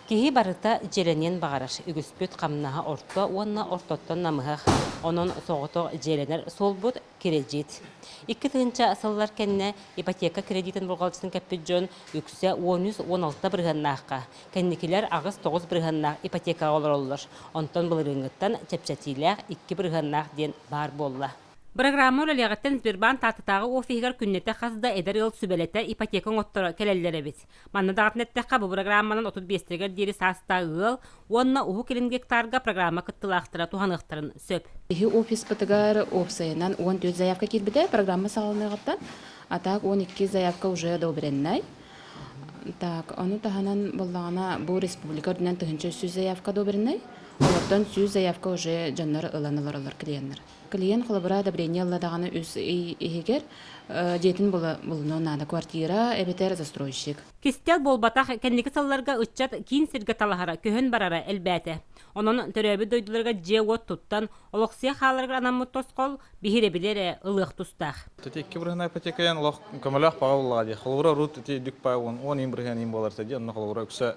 Киһи барыта дьиэлэниэн баҕарар, үгүспүт хамнаһа орто уонна ортоттон намыһах, онон соҕотох дьиэлэнэр суолбут, кирэдьиит. Икки тыһыынча сыллар кэннэ ипотека кирэдиитин болҕомтотун кэппит дьон үксэ уон үс уон алта бырыһыаннаахха, кэнникилэр аҕыс тоҕус бырыһыаннаах ипотекаҕа олороллор, онтон былырыыҥҥыттан чэпчэтиилээх икки бырыһыаннаах диэн баар буолла. Бырагыраама үлэлиэҕиттэн Сбербанк Тааттатааҕы офиһыгар күннэтэ хас да эдэр ыал сүбэлэтэр ипотека оҥотторо кэлэллэр эбит. Манна даҕатан эттэххэ, бу бырагырааманан отут биэстэригэр диэри саастаах ыал уонна Уһук Илин гектарга программа кыттыылаахтара туһаныахтарын сөп. Биһи офиспытыгар уопсайынан уон түөрт заявка киирбитэ программа саҕаланыаҕыттан, а так уон икки заявка уже одобреннай. Так, ону таһынан буоллаҕына, бу республика үрдүнэн тыһыынча үс сүүс заявка одобреннай, олортон сүүс заявка уже дьоннор ылан олоролор клиеннэр. Клиент холобура одобрение ылла даҕаны үс ый иһигэр дьиэтин булунуо наада. Квартира эбэтэр застройщик. Кистэл буолбатах, кэнники сылларга ыччат киин сиргэ талаһара, көһөн барара элбээтэ. Онон төрөөбүт дойдуларга дьиэ-уот туттан, олохсуйа хааларыгар анаммыт тосхол, биһирэбили эрэ ылыах тустаах. Ити икки бырыһынай ипотекайан олох көмөлөөх баҕа буоллаҕа дии. Холобура, урут ити үрдүк баҕа уон иин бырыһыан иин буолар этэ дии, онно холобура үксэ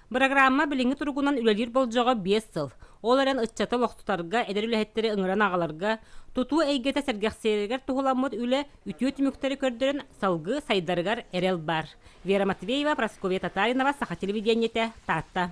Бырагыраамма билиҥҥи туругунан үлэлиир болдьоҕо биэс сыл. Ол эрэн ыччаты олохтутарга, эдэр үлэһиттэри ыҥыран аҕаларга, тутуу эйгэтэ сэргэхсийэригэр туһуламмыт үлэ үтүө түмүктэри көрдөрөн, салгыы сайдарыгар эрэл баар. Вера Матвеева, Прасковья Татаринова, Саха телевидениетэ, Таатта.